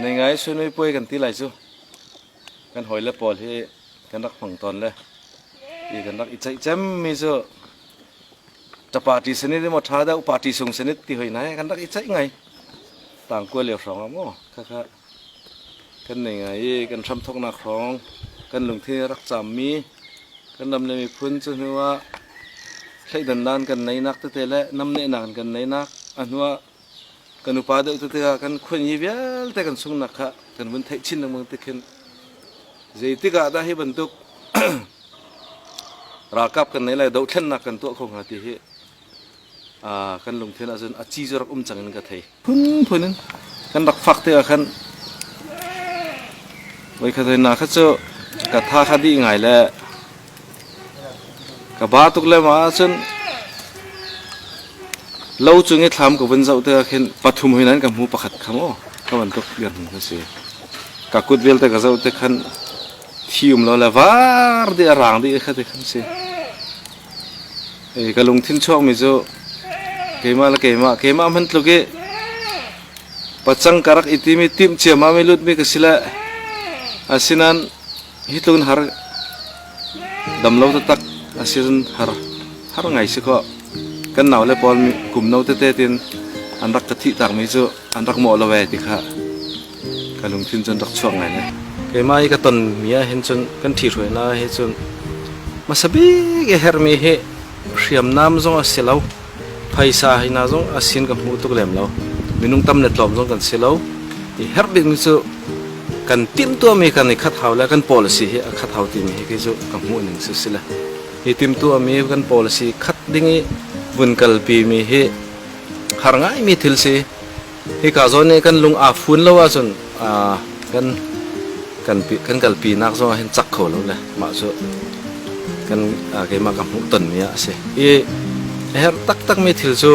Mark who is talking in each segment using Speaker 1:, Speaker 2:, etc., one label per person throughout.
Speaker 1: Nei ngai su nui puai kan ti lai cu. Kan hoi le pawl hi kan rak hmang tawn le i kan rak i ceih cem mi cu ta party sani le maw tha deuh party sung sani ti hoi nai kan rak i ceih ngai tang kual lio hrawng a maw khakha kan nei ngai i kan hram thoknak hrawng kan lungthin rak cham mi kan ram le miphun cu hnu ah thleidan dan kan nei nak tete le nam ne nak kan nei nak a hnu ah kan upa deuh tete ah kan khuanyi vialte kan sungnak kha kan vun theih chin lengmang ti khin zeitik ah dah hi bantuk ralkap kan nei lai dothlennak kan tuah kho hnga ti hi kan lungthin ahcun a ci rak um cang in ka thei phunphun in kan rak fak te ah khan voikhat na kha cu ka tha kha dih ngai le Ka ba tuk lem ahcun lo cung i thlam ka vun zoh tikah khin pathum hoi nan ka hmu pakhat kha maw ka bantuk biarhmun ka si. Ka kut vialte ka zoh tik khan thi um lo le var dih a raang dih kha ti khan si. Ka lungthin chuakmi cu keimah le keimah keimah hman tluk i pacang ka rak i timi timh ciamami lutmi ka si le asinain Hi tlun har damlo taktak a si cun har har ngai si kaw kan nau le pawl kum no tete tin an rak ka thih takmi cu an rak mawh lo ve ti kha ka lungthin cun rak chuak ngai lai. Keimah i ka tonmi ah hin cun kan ṭhi hruaina hi cun hmasa bik a herhmi hi hriamnam zong a si lo. Phaisa hi hna zong a sin kan hmuh tuk lem lo. Minung tam le tlawm zong kan si lo. I herh bikmi cu kan timhtuahmi kan i khat hau le kan policy hi a khat hau timi hi khi cu ka hmuhning cu si le. Hi timhtuahmi kan policy khat ding i vun kalpimi hi har ngaimi thil si. Hika zawn i kan lung aa fun lo ahcun kan kan kan kalpinak zong ah hin cak kho lo le mah cu kan keimah ka hmuh tonmi ah a si i a herh taktakmi thil cu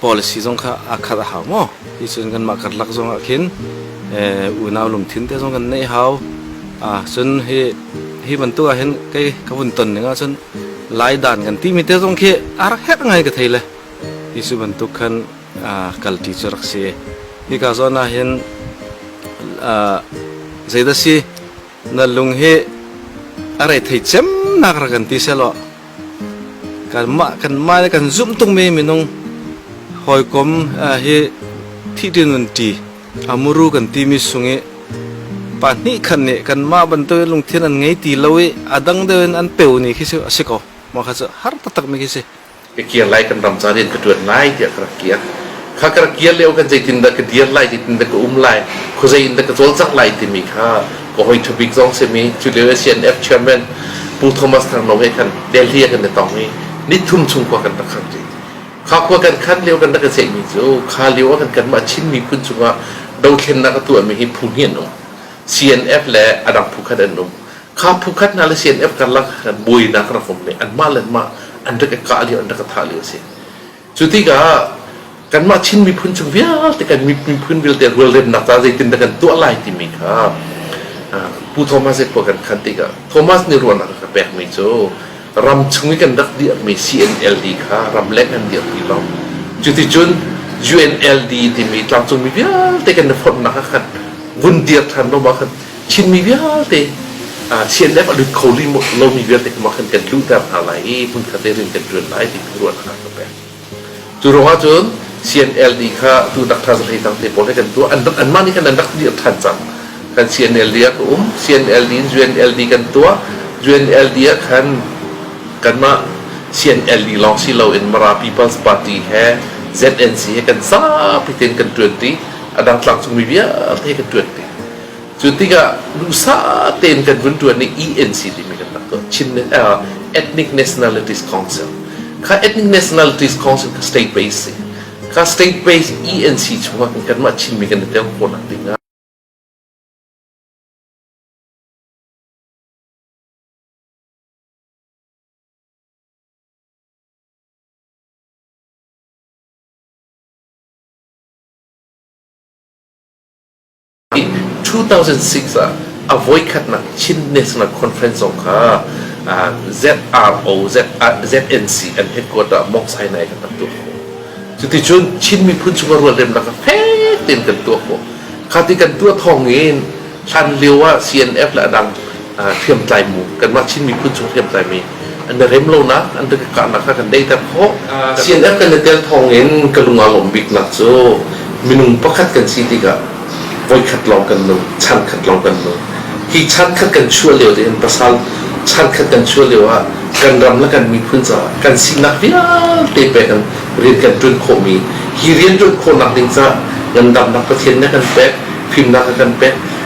Speaker 1: policy zong kha aa khat a hau maw ti cun kanmah karlak zong ah khin unau lungthin te zong kan nei hau cun hi hi bantuk ah hin kei ka vun ton ning ah cun lai dan kan ti mi te zong khi a rak hek ngai ka thei le ti cu bantuk khan kalṭi cu rak si. Hika zawn ah hin zeidah si na lung hi a rei thei cemnak rak kan ti sehlaw kanmah kanmah le kan zumh tungmi minung hawikom hi thihṭin nunṭi a muru kan timi sung i pahnih khat nih kanmah bantukin lungthin an ngei ti lo i a dang deuh in an peu ni khi a si ko. Mah kha cu har taktakmi khi a si. ka kir lai kan ram caan in ka ṭuan lai tiah ka rak kir. Kha ka rak kir lio kan zeitindah ka dir lai, zeitindah ka um lai, khuazei in dah ka cawlcangh lai timi kha ka hoi ṭhabik zong simi cu lio CNF chairman Pu Thomas Thang Nong he khan Delhi ah kan i tong i nithum chung khua kan rak khan ṭi. Kha khua kan khan lio kan rak i ceihmi cu kha lio ah kan kanmah Chinmi phun chungah dothlennak a tuahmi hi phu hnih an um. CNF le a dang phu khat an um. kha phukhat hna le CNF karlak buainak rak um nih anmah le anmah an rak i kah lio an rak i thah lio a si cu tikah kanmah Chin miphun chung vialte kan miphun vialte rualremnak ca zeitin dah kan tuah lai timi kha Pu Thomas i khua kan khan tikah Thomas nih ruahnak a ka pekmi cu ram chung i kan rak dirhmi CNLD kha ramleng an dirhmi lawng cuticun UNLD timi tlangcungmi vialte kan i fonhnak kha kan vun dir ṭhan lawmah khan Chinmi vialte Chin le a lut kho lomi vialte kha kan kan luhter hna lai i hmunkhat te in kan ṭuan lai ti kha ruahnak ka pek. Cu ruangah cun CNLD kha atu tak tha hlei tang te pawl he kan tuah anmah nih khan an rak dir ṭhan cang kan CNLD ah ka um CNLD in UNLD kan tuah UNLD ah khan kanmah CNLD lawng si loin Mara People's Party he ZNC he kan zapi tein kan ṭuanṭi a dang tlangcungmi vialte kan ṭuanṭi Cu tikah duhsah tein kan vun ṭuan i ENC timi kan rak tuah, Chin uh, Ethnic Nationalities Council. Kha Ethnic Nationalities Council kha state based si. Kha state based ENC chungah kanmah Chinmi kan i tel khawhnak ding ah I 2006 ah a voikhatnak Chin National Conference zong kha uh, ZRO Z, uh, ZNC an headquarter Mok Sinai kan tuah ko cuticun Chin miphun chung a rualremnak kha fek tein kan tuah ko kha ti kan tuah thawng in hlan lio ah CNF le adang hriamtlaimu kanmah Chin miphun chung hriamtlaimi an i rem lonak an kahnak kha kan deiter khawh CNF kan i tel thawng in ka lungah lawm biknak cu minung pakhat kan si tikah voikhat lawng kan nung chan khat lawng kan nung hi chan khat kan chuah lio in pasal chan khat kan chuah lio ah kan ram le kan miphun caah kan sinak vialte pe kan rian kan ṭuan khawhmi hi rian ṭuan khawhnak ding caah ngandamnak Pathian nih a kan pek fimnak a kan pek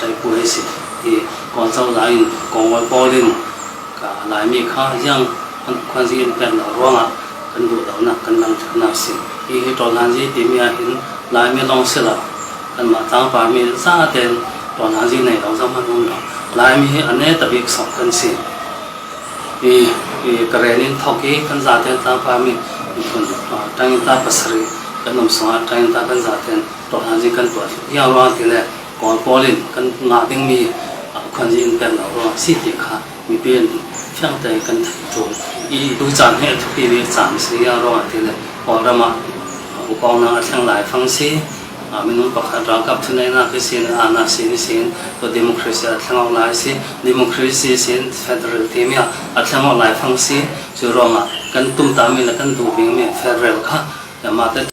Speaker 1: Taipu hi si i Kawl cozah in Kawngawi pawl in Laimi kha hiang khuanzi in pek lo ruangah kan duhlonak kan langhternak si. Hi hi Ṭawnanzi timi ahhin Laimi lawng si lo, kanmah tlangparmi za tein Ṭawnanzi nei lo zong an um lo. Laimi hi a neta bik sawk kan si. I, i Karen in thawk i kan zaten tlangparmi miphun ṭangin ta pasarih kan um sungah ṭangin ta kan zaten tuakhan zi kan tuah ya ruang ti le kawl pawl in kan ngah dingmi khan zi in pek lo ruang si ti kha mipi in fiang te kan cu i tu caan he thupi vi caan si ya ruang ti le kawl ram ah ukong na thleng lai fang si minung pakhat ralkap thunainak hi sin anak sin hi sin to democracy a thleng lai si democracy sin federal team ya a thleng lai fang si cu ruang ah kan tum ta mi le kan du bing mi federal kha mah te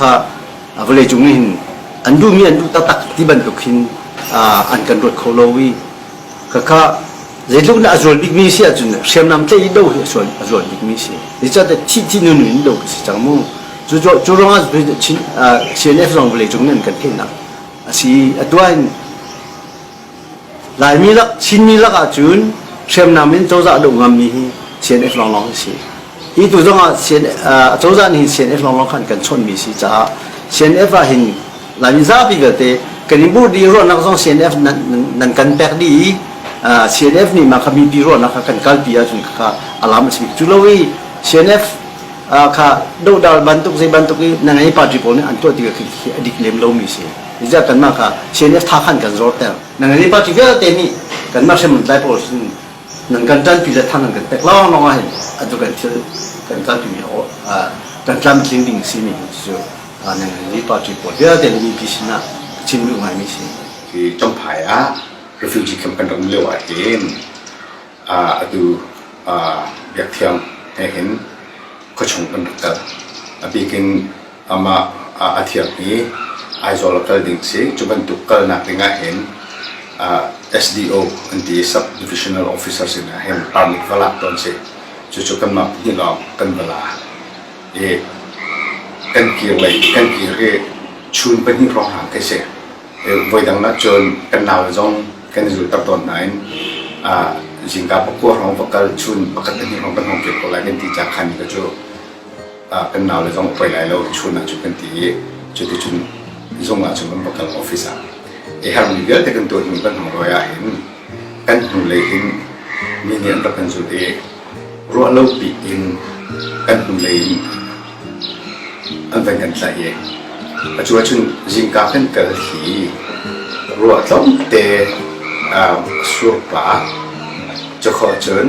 Speaker 1: kha vawleicung nih hin an duhmi an duh taktak ti bantuk hin an kan ruat kho lo i khakha zeitluk in a zual bikmi si ahcun hriamnam tlaih lo hi a zual bikmi si zeicahtiah thih thih nun in lo ka si cang mu cu ruangah CNF zong vawleicung nih an kan theihnak a si atu in Laimi lak Chinmi lak ahcun hriamnam in cozah duh ngammi hi CNF lawnglawng hi si. Hi tu zong ah cozah nih CNF lawnglawng khan kan chawnhmi si caah CNF ah hin Laimi zapi vialte kan i burdi ruahnak zong CNF nan kan pek dih i CNF nih mah kha mipi ruahnak kha kan kalpi ahcun kha alam a si bik. Cu lo i CNF kha dohdal bantuk zei bantuk i na ngei party pawl nih an tuah ti a dik lem lomi si. Reserve kanmah ka CNF tha khan kan zorter. Nangani party vialte nih kanmah hremon dai pawl sin nan kan tanpi le thang an kan pek lawnglawng ah hin atu kan thil kan tanpi kan tlamtling ding a simi hi cu nangani party pawl vialte nih mipi sinah chim duh ngaimi si. Hi Champhai ah refugee camp kan ram lio ah hin atu biakthiang he hin khuachung kan rak kal. A bikin amah a thiangmi Aizawl a kal ding si. Cu bantuk kalnak ding ahhin SDO an ti i Sub Divisional Officer sinah hin permit va lak tawn si. Cucu kanmah pahnih lawng kan va la i kan kir lei kan kir i chun pahnih hrawng ka si. Voidang nak cun kan nau zong kan i zulter tawn nain zingka pakua hrawng va kal chun pakhat pahnih hrawng kan hong kir ko lai kan ti cakhan ka cu kan naule zong poi lai lo chun ah cu kan ti i cuticun zung ah cun kan va kal office ah i harmi vialte kan tuah hnu kan hong roi ah hin kan hnu lei hin mi nih an rak kan zulh i ruah lo pi in kan hnu lei in an van kan tlaih i a cu ahcun zingka kan kal hi ruah tlawmte surpa cakho cun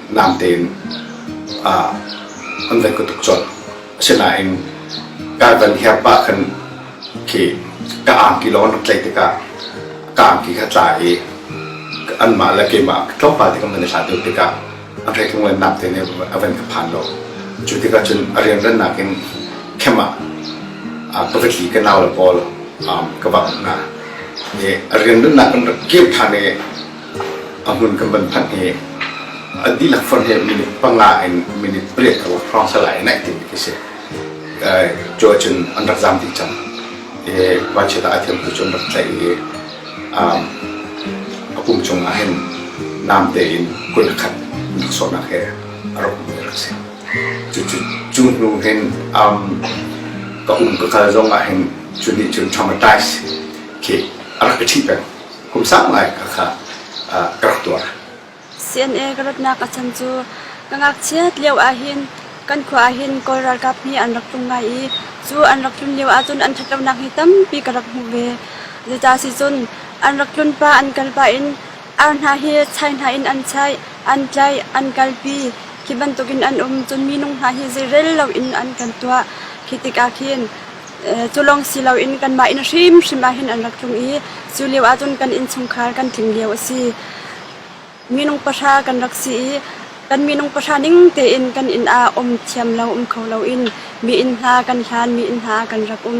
Speaker 1: natein an vai kutuk cawt asinain ka van herpa khan khi ka angki lawng rak tlaih tikah ka angki kha tla i anmah le keimah tlawmpal tikah man i hlat deuh tikah a hrek lunglen nak te nih a van ka phan lo cu tikah cun a rianrannak in khem ah pavatli ka nau le pawl ka bak hna i a rianrannak in rak kir ṭhan i a hmun kan van phanh hi a dihlak fon he minute panga in minute pariat ka hrawng sal ai naih ding khi si cu ahcun an rak zaam dih cang i vanchiat ah a thiam tu cu an rak tlaih i a pum cungah hin namte in kun a khat rak sawhnak he a rak um rak si cu hnu hin ka um ka kal zong ah hin cu nih cun traumatise khi a rak ka ṭhih peng kum sang lai kha kha ka rak tuah. CNA ka ratnak a chan cu ka ngakchiat lio ahhin kan khua ahhin Kawl ralkap hi an rak tum ngai i cu an rak tlun lio ahcun an ṭhatlonak hi tampi ka rak hmuh ve. Zeicah si cun an rak tlun pa an kal pah in ar hna hi chai hna in an chaih, an tlaih, an kalpi. Khi bantukin an um cun minung hna hi zeirel loin an kan tuah. Khi tikah khin Cu lawng si loin kanmah inn hrimhrim ah hin an rak tlung i cu lio ahcun kan innchungkhar kan tling lio a si. Minung pahra kan rak si i kan minung pahra ning tein kan inn ah um thiam lo um kho loin mi inn hna kan hlan, mi inn hna kan rak um.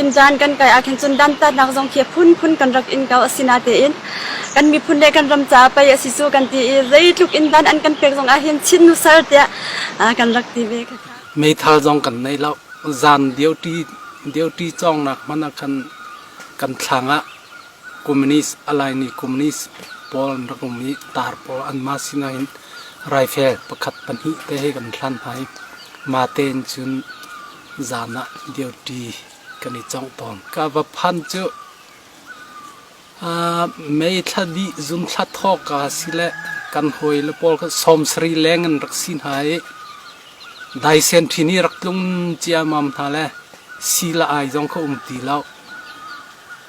Speaker 1: Inn caan kan kai ahkhin cun dantatnak zong khi phunphun kan rak in ko a si natein kan miphun le kan ram caah pei a si cu kan ti i zeitluk in dan an kan pek zong ahhin Chin nusal tiah kan rak ti ve khakha. Meithal zong kan nei lo. Zan dirti dirti cawngnak hmanh ah khan kan thlang ah Communist, alai nih communist pawl an rak um i tar pawl anmah sinah hin raifel pakhat pahnih te he kan hlan hna i mah tein cun zan ah duty kan i congh tawn. Ka va phan cu uh, mei thla dih zum thla thawk a si le kan hawi le pawl kan sawmsari leng an rak si hna i daisen thin i rak tlung ciamam hna le si la ai zong kha um ti lo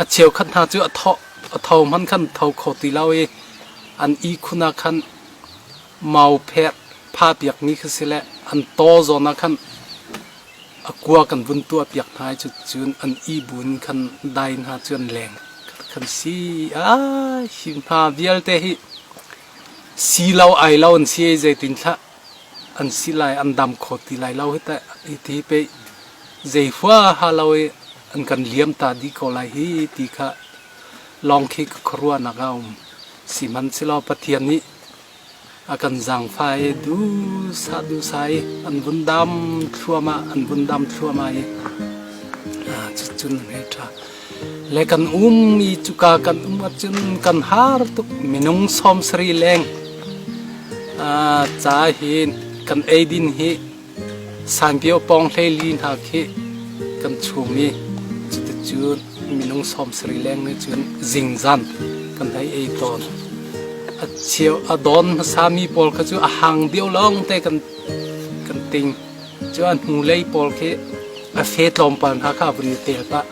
Speaker 1: A cheukhat hna cu a tho, a tho hmanh khan tho kho ti lo i an ihkhun ah khan mau pher phapiakmi kha si le an taw zawn ah khan a kua kan vun tuahpiak hna i cucun an ibu in khan dai hna cu an leng kan si ai hi hna vialte hi si lo ai lo an si ai zeitin thlah an si lai an dam kho ti lai lo hi teh hi pe zei huaha lo i an kan liam ta di ko lai hi ti kha lawng khi ka khuaruahnak a um si man si lo pathian nih a kan zangfai du sa du sai an vun dam thluama an vun dam thluama i cun he tha Le kan ummi cuka kan um ahcun kan har tuk minung sawmsarih leng uh, ca hi kan eidin hi sangkio pawng hleili hna khi kan chung i cuticun minung sawmsarih leng nih cun zingzan kan hei ei tawn a cheu a don hmasami pawl kha cu a hang deuh lawng te kan kan ting Cu a hnulei pawl khi a fe tlawmpal hna kha a vun i tel pah.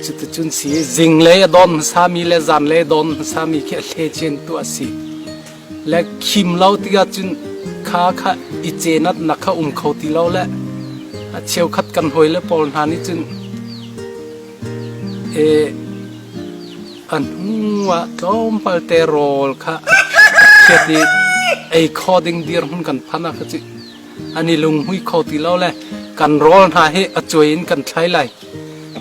Speaker 1: Cuticun si zinglei a dawn hmasami le zanlei a dawn hmasami khi a thlecin tu a si. Le khim lo tikah cun kha kha i cenat nak kha um kho ti lo le a cheukhat kan hawile pawl hna nih cun e, an hnuah tlawmpal te rawl kha a phiat i ei kho ding dirhmun kan phan ah kha cu an i lunghmui kho ti lo le kan rawl hna hi a cuai in kan thlai lai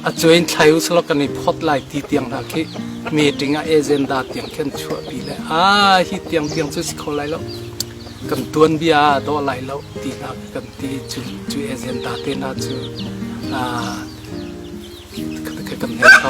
Speaker 1: a cuai in thlai usalaw kan i phawt lai ti tiang hna khi meeting ah agenda tiang khan chuahpi le a hi tiang tiang cu si kho lai lo kan tuanbia dawh lai lo ti hna kan ti cu cu agenda te hna cu kan hei kho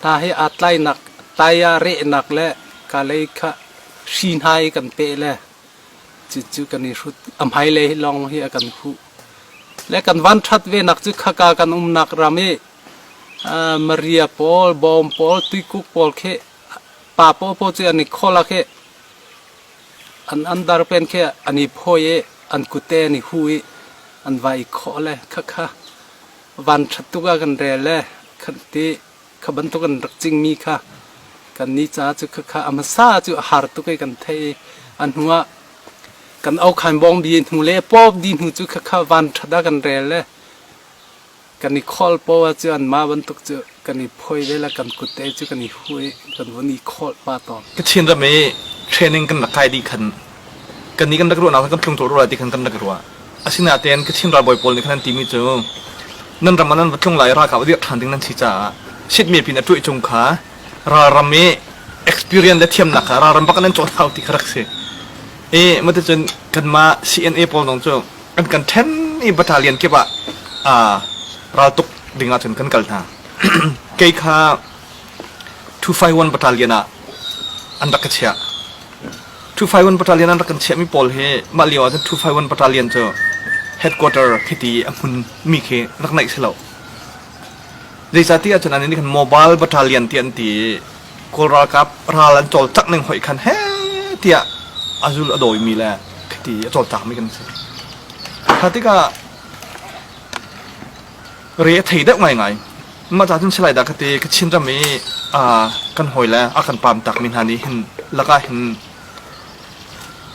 Speaker 1: Hna he aa tlainak taiah rehnak le kalei kha hri hna i kan peh le cucu kan i hrut. A hmailei lawng hi a kan huh. Le kan van ṭhat venak cu khaka kan umnak ram i uh, Maria pawl, bawm pawl, tuikuk pawl khi pa paw paw cu an i khola khi An an dar pen khi an i phawi i an kute an i hu i an va i khawh le khakha van ṭhat tuk ah kan rel le kan ti kha bantuk an rak cingmi kha kan ni ca cu khakha a hmasa cu a har tuk i kan theih i a hnu ah kan aukhan bawng bi hnu le pawp di hnu cu khakha van ṭhat ah kan rel le kan i khol paw ahcun mah bantuk cu kan i phoih ve le kan kut te cu kan i hu i kan vun i khawlh pa tawn. Kachin ram i training kan rak kai dih khan kannih kan rak ruahnak le kan tlungthawh ruah ti khan kan rak i ruah. Asinain Kachin ralbawi pawl nih khan an timi cu nan ram ah nan va tlung lai i ralkap a dirh ṭhan ding nan si caah Shitmiap in a ṭueh cung kha ralram i experience le thiamnak kha ralram bak in an cawt hau ti kha rak si i maticun kanmah CNA pawl zong cu an kan ṭhen i battalion kip ah raltuk ding ahcun kan kal hna kei kha 251 battalion ah an rak ka chiah 251 battalion an rak kan chiahmi pawl hi mah lio ahcun 251 battalion cu headquarter khiti a hmunmi khi rak naih si lo zeicahti ahcun an nih khan mobile battalion ti an ti i Kawl ralkap ral an cawlcangh ning hoih khan he tiah a zul a dawimi le khiti a cawlcangmi kan si. Kha tikah re a thei deuh ngaingai. Mah ca cun silai dah khati ka chin ram i kan hawi le a kan pam takmi hna nih hin lakah hin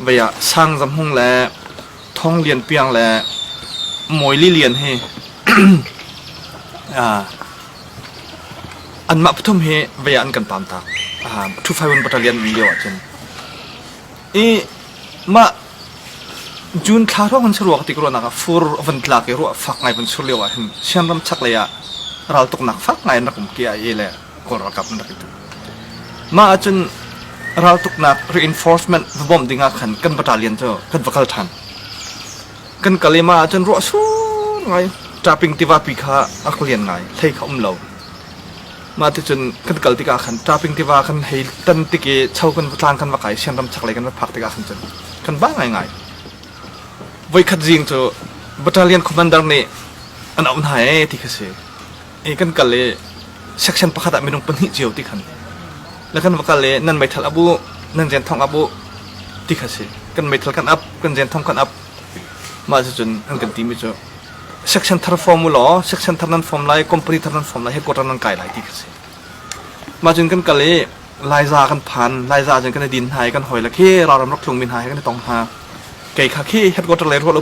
Speaker 1: vei ah sang zam hung le thong lian piang le mawi li lian hi Anmah pathum hi vei ah an kan pam tak. Um, 251 battalion an um lio ahcun. I mah June thla hrawng an si rua ti ruahnak ah fur a van tlak i ruah fak ngai van sur lio ahhin Sian ram chak lei ah raltuknak fak ngai an rak um kia i le Kawl ralkap an rak i tuk. Mah ahcun raltuknak reinforcement va bawmh ding ah khan kan battalion cu kan va kal than. kan kal i mah ahcun ruah sur ngai ṭaping tivapi kha a ka lian ngai hlei kha um lo mah ticun kan kal tikah khan ṭaping tiva kan hei tan tik i cho kan tlang kan va kai sian ram chaklei kan va phak tikah khan cun kan ba ngaingai voikhat zing cu battalion commander nih an auh hna ee ti kha si i kan kal i section pakhat ah minung pahnih cio ti khan la kan va kal i nan meithal a buh nan zen thong a buh ti kha si kan meithal kan ap kan zen thong kan ap mah cu cun an kan timi cu section thar form u law section thar nan form lai company thar nan form lai headquarter nan kai lai ti kha si mah cun kan kal i laiza kan phan laiza cun kan i din hna i kan hoi la khi raram rak tlung min hna kan i tong hna kei kha khi headquarter le ruah lo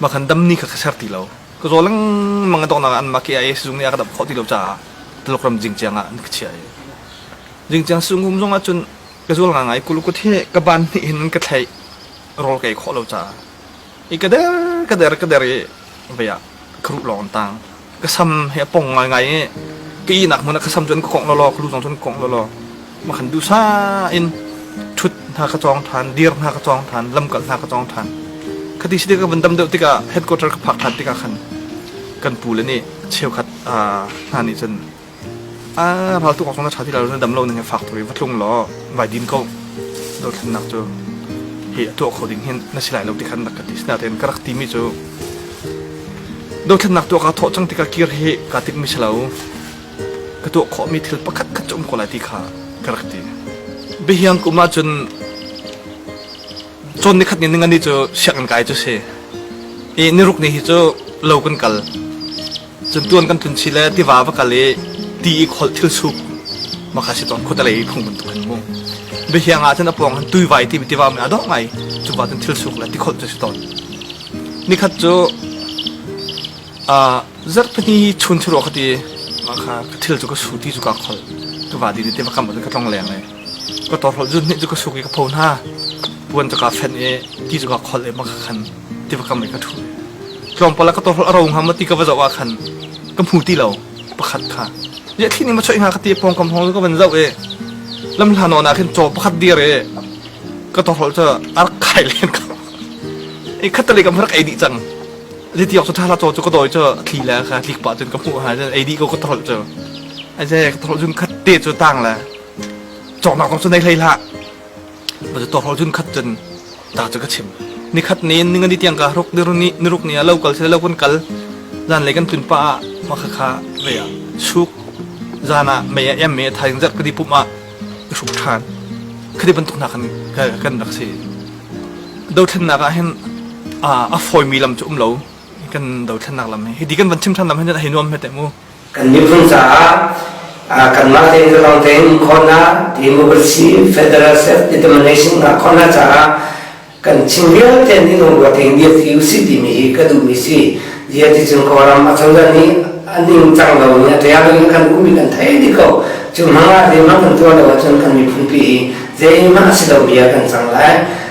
Speaker 1: Mah khan dam ni kha ka ser ti lo. Ka zaw lengmang a donghnak ah anmah KIA sizung nih a ka damh khawh ti lo caah Taluk ram Jingciang ah an ka chiah i Jingciang sizung zong ah cun ka zual ngai kuluk kut hi ka ban hnih in ka thlaih rawl ka ei khawh lo caah i ka der ka der ka der i vei ah ka ruh lawng an tang ka sam hi a pong ngaingai i ka ihnak hmun ah ka sam cu an kongh lawlaw ka lu zong cu an kongh lawlaw ma khan dusa in thut hna ka cawng than dir hna ka cawng than lamkal hna ka cawng than khati si ka vun dam deuh tikah headquarter ka phak than tikah khan kan pu le nih cheukhat hna nih cun A rau tuk awkong na ṭha ti lo na dam lo nan faktuk i va tlung law vai din ko dothlennak cu hi a tuah kho ding hin na si lai lo ti khan rak ka ti sinain ka rak timi cu dothlennak tuah kaa thawh cang tikah kir hi kaa tikmi si lo ka tuah khawhmi thil pakhat khat cu um ko lai ti kha ka rak ti bihiang kum ah cun cawn ni khat ni ningani cu sianginn kai cu si i niruk ni hi cu lo kan kal Cun tuan kan tlun chih le tiva va kal i ti i kholh thil suk makha si ton khuatalei i phung bantuk khan mung bihiang ah cun a pawng han tuivai ti tiva me a dawh ngai cu ba cun thil suk le ti kholh cu si ton nikhat cu a zar pahni chun churu khati makha ka thil cu ka su ti cu ka kholh tu va di ni te va kam ka tlong leng le Ka torhlawh zun nih cu ka suk i ka pho hna. Puan cu kaa fenh i ti cungah khol i maka khan tiva kam i ka ṭhu. Tlawmpal ah ka torhlawh a ro hnga maw ti ka va zoh ahkhan ka hmu ti lo. Pakhat kha. Liahthih nih ma choih hnga ka ti i pawngkam hawng cu ka van zoh i lam hlan nawn ahkhin caw pakhat dir i ka torhlawh cu a rak khai len ko. I khattali kam rak ei dih cang. Zei ti awk cu ṭhahla caw cu ka dawi cu a thli le kha tlik pah cun ka hmuh ha cun ei dih ko ka torhlawh cu. A zei ka torhlawh cun khat te cu tang le cawknak zong cu nei hlei hlah va tu tawk cun khat cun ta cu ka chim ni khat ni ninga ni tiang ka ruk ni ni ni ruk ni a lo kal se lo kan kal zan lei kan tlun pa ma kha kha ve a suk zan a me em me thai zat ka di pum a suk than khadi bantuk na kan kan rak si do thlen nak a hin a a foi mi lam chu um lo kan do thlen nak lam hi di kan van chim than lam hin a hi nuam he te mu kan miphun caah kanmah tein ka lawng tein khawhnak democracy federal self determination ngah khawhnak caah kan chim vialte nih lungruat tein bia ti usih timi hi ka duhmi si dia ti cun kawlam a cangda nih a ning cang lo nih a ṭial in kan ummi kan thei di ko cu hmang ah de mah kan tuah lo ahcun kan miphun pi hi zei mah a si lo bia kan cang lai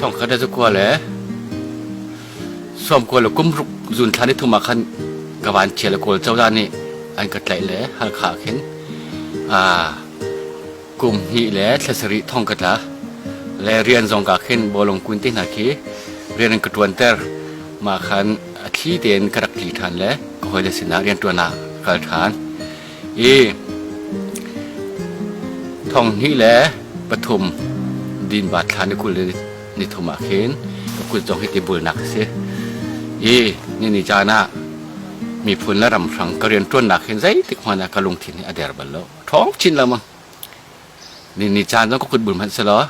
Speaker 1: Thongkhat le kua le sawm kua le kum ruk zun thlan i thum ah khan ka van chia le kawl cozah nih an ka tlaih le Halkha ah khin kum hnih le thla sarih thong ka tla le rian zong ka khin bolong kun te hna khi rian an ka ṭuanter mah khan a thli tein ka rak tli ṭhan le ka hawile sinah rianṭuan ah kal ṭhan i thong hnih le pathum din va thla ni kul ni thum ah khin ka kut zong hi tibulnak a si i nini caan ah miphun le ram hrang ka rian ṭuannak hin zeitik hmanh ah ka lungthin hi a der bal lo ṭhawng chin lamang nini caan zong ka kut bul hmanh si law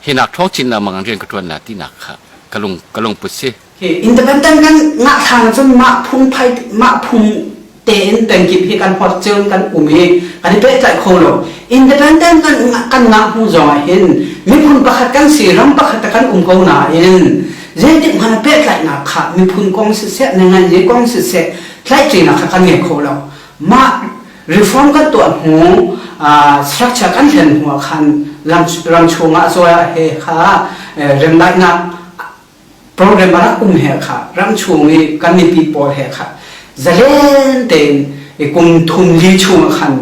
Speaker 1: hi nak ṭhawng chin lamang rian ka ṭuan la tinak kha ka lung ka lungput si Independent kan ngah thlang cun mah phungphai mah phung tein pengkip hi kan hor ceu kan um i kan i pehtlaih kho lo independent kan kan ngah hnu zong ah hin miphun pakhat kan si ram pakhat kan um ko nain zeitik hmanh pehtlaihnak kha miphun kong siseh nenganzi kong siseh tlaihṭinak kha kan ngei kho lo mah reform kan tuah hnu structure kan thlen hnu ah khan ram chung ah zuar he kha remdaihnak program a rak um he kha ram chung i kan mipi pawl he kha zalen tein i kum thum li chung ah khan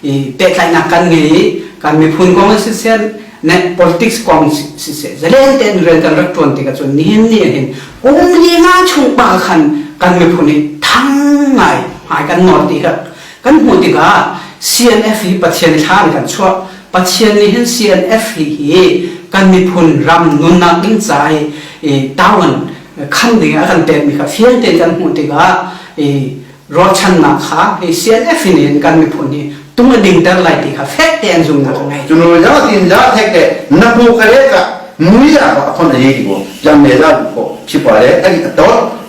Speaker 1: i pehtlaihnak kan ngei i kan miphun kong si sen ne politics kong si se zalen tein rel kan rak tuan tik ahcun nihin ni hin kum li nga chung pa khan kan miphun hi thang ngai ngai kan nawl ti kha Kan hmuh tikah CNF hi Pathian thla in kan chuah. Pathian nih hin CNF hi hi kan miphun ram nunnak ding ca i town khan ding a kan pekmi kha fiang tein kan hmuh tikah i ruahchannak kha hi CNF nih kan miphun hi tung a dingter lai ti kha fek tein zumhnak a ngei. Cunu zau tin zau thek le na hmu ka le ka mui la ba khon a ye ki bo, jam me za bu ko, khi pa le a ki a tot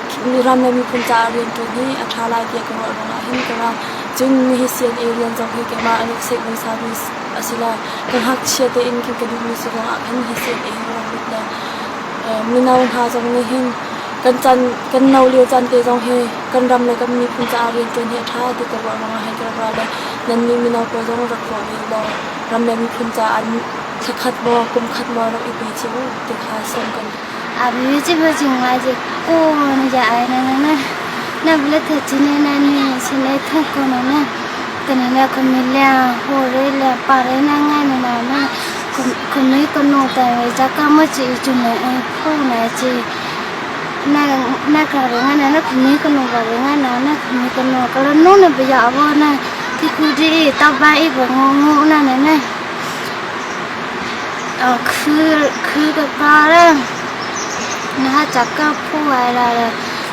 Speaker 1: Miram le miphun caah rianṭuan hi a ṭha lai tiah ka ruah ruangah hin ka ra. Cun nihi CNA rian zong hi keimah an rak seih hmasami a si lo. Ka ngakchia tein kan ka duhmi si ruangah khan hi CNA hi ka rak lut lo. Mino hna zong nih hin kan can kan no lio caan te zong hi kan ram le kan miphun caah rianṭuan hi a ṭha ti ka ruah ruangah hin ka rak ra lo. Nannih mino pawl zong rak ruah ve law ram le miphun caah an thla khat maw kum khat maw rak i pe cio ti kha sawm kan duh. A bi cim a cim ngai cik. U manu ja ai na na na na bla tha chi ne na ni si ne thung ko na na. Kani na kami le ho re le pa re na ngai na na na. Kami kanu ta re ja ka mo chi chu ne ai ko na chi. Na na ka re nga na na kami kanu ka re nga na na kami kanu ka ra nu na bia wo na. Ti ku di ta ba i bo ngu ngu na na na. Thil ka par e, na cak ka phu ai ra le.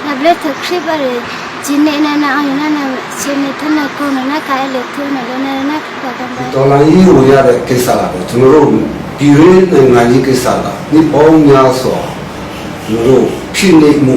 Speaker 1: Na ble thuk hrip a ri, cin ne na na ina na sin ne thun na ku na na kai le thu na le na na ka kan ba. To la yi ru ya de ke sa la de tun ru pi re na ngai yi ke sa la ni pong nya so nu ru phin ne mu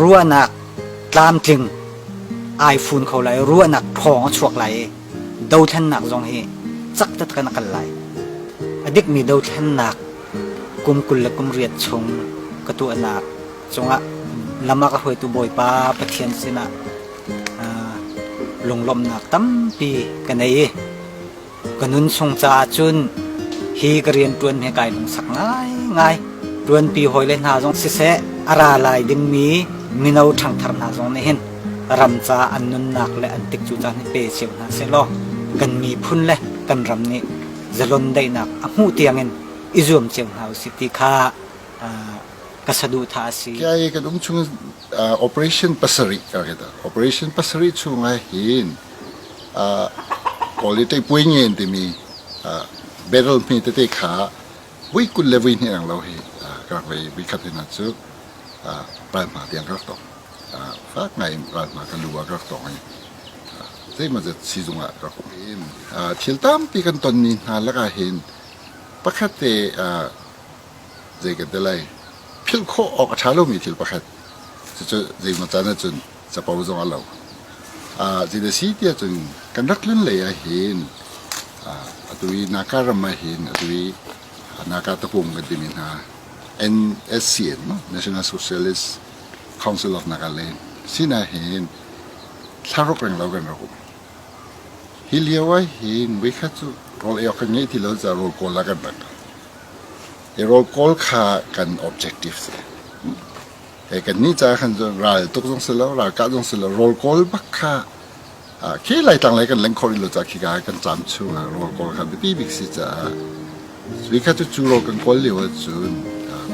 Speaker 1: ruahnak tlamtling ai fun kho lai ruahnak thawng a chuak lai i dothlennak zong hi caktat kan kal lai a dikmi dothlennak kum kul le kum riat chung ka tuahnak cungah lam ah ka hruaitu Bawipa Pathian sinah lunglawmhnak tampi ka nei i ka nun chung caah cun hi ka rian ṭuan hi kai lungsak ngaingai ṭuanpi hawile hna zong siseh a ra lai dingmi mino ṭhangthar hna zong nih hin ram caah an nunnak le an tik cu caan hi pe cio hna sehlaw kan miphun le kan ram nih zalon daihnak a hmuh tiangin i zuam cio hna usih ti kha ka saduhthah a si. Kai kan um chung operation pasarih ka kita operation pasarih chung ah hin kawl i tei puai ngen timi barrel hme tete kha vui kul le vui hnih ang lo hi ka rak vei vi khat hina cu rai hma tiang ka rak tong. fak ngaiin ralhma kan lu ah rak tawng i zeimazat sizung ah rak um. thil tampi kan tonmi hna lakah hin pakhat te zei kan ti lai philh khawh awk a ṭha lomi thil pakhat cucu zeimaw caan ahcun capo zong a lo uh, zin a si ti ahcun kan rak tlun lei ah hin uh, atu i naka ram ah hin atu i naka tapung kan timi hna NSCN National Socialist council of Naga le sinain thlaruk reng lo kan rak um hi lio ah hin voikhat cu rawl ei awk kan ngei ti lo ca rawl kawl la kan rat i rawl kawl kha kan objective si e kan ni ca khan cu ral tuk zong si lo ral kah zong si lo rawl kawl bak kha khi laitlang lei kan leng khawh rih lo ca khi ka kan cam chung ah ruang kawl kha biapi bik si caah hi kha cu cu ro kan kawl lio ah cun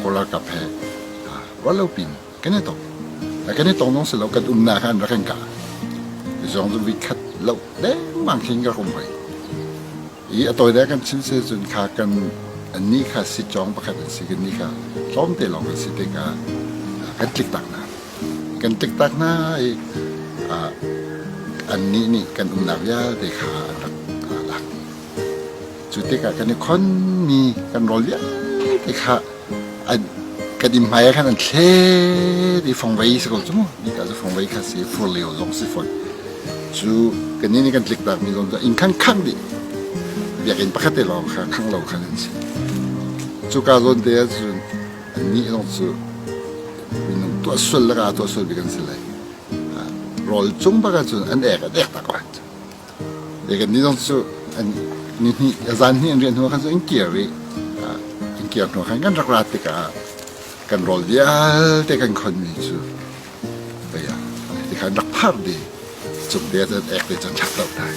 Speaker 1: kawl ralkap he ruallo pin kan i tong kan i tong nong si lo kan umnak ah an rak kan kah zong cu vi khat lo dengmang khi ka rum hoi I a tawile kan chim si cun kha kan ni kha si cawng pakhat an si kan ni kha tlawmte lawng an si tikah kan tlik tak hna kan tlik tak hna i an nih nih kan umnak vialte kha an rak lak cu tikah kan i khonmi kan rawl vialte kha kan inn hmai ah khan an thlet i fongvei si ko cu mu ni ka cu fongvei kha si fur leo zong si fon cu kan inn i kan tlik tak mi zong cu inn khang khang dih biakinn pakhat te lawng kha khang lo khan an si cu ka zawn te ah cun an nih zong cu minung tuah sual laka tuah sual bik an si lai rawl cung bak ah cun an ek an ek tak wa Kannih zong cu zan hnih an riah hnu khan in kir rih. Kan kir hnu khan kan rak ra tikah kan rawl vialte kan khonmi cu tikhan rak phar dih. Cung te cun ek te cun rak toh dai.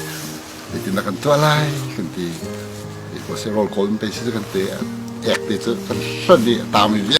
Speaker 1: Zeitindah kan tuah lai kan ti. Pawsi rawl kawl in pei si kan ti. Ek te cu kan hlonh i a taam i vialte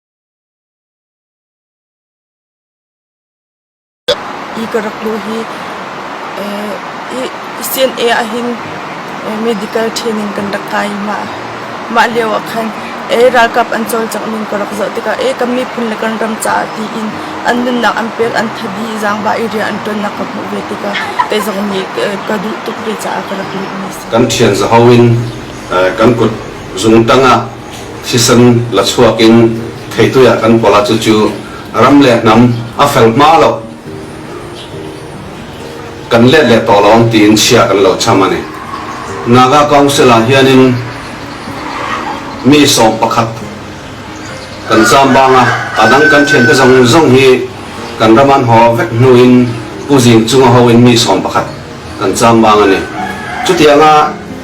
Speaker 1: Hi ka rak luh hi CNA ahhin medical training kan rak kai i mah lio ah khan ralkap an cawlcangh ning ka rak zoh tikah kan miphun le kan ram caah tiin an nunnak an pek an that i zaangba area an ṭuannak ka hmuh ve tikah kei zong nih ka duh tuk ve caah ka rak lut mi a si. Kan ṭhian zaho in kan kut zung ṭang ah thisen la chuak in theitui ah kan kuala cu cu ram le hnam a fel hma lo kan let le to lawng tiin chia kan lo cham ani naga council ah hian in mi sawm pakhat kan zambanga adang kan thian te zong zong hi kan raman ho vek hnu in uzing chunga ho in mi sawm pakhat kan chambang ani chutianga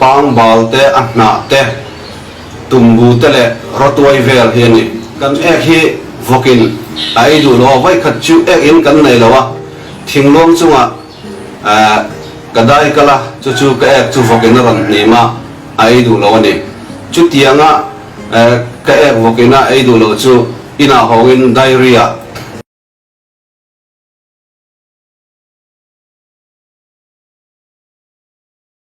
Speaker 1: Bangbal te, a hnah te, tumbu te le rotuai vel hi ani. Kan ek hi vok in a ei duh lo. Voikhat cu ek in kan nei lo a. Thingluang chungah ka dai kal a, cucu ka ek cu vok in a ran hnim a, a ei duh lo ani. Cutiang a ka ek vok in a ei duh lo cu inn ah hawng in diary ah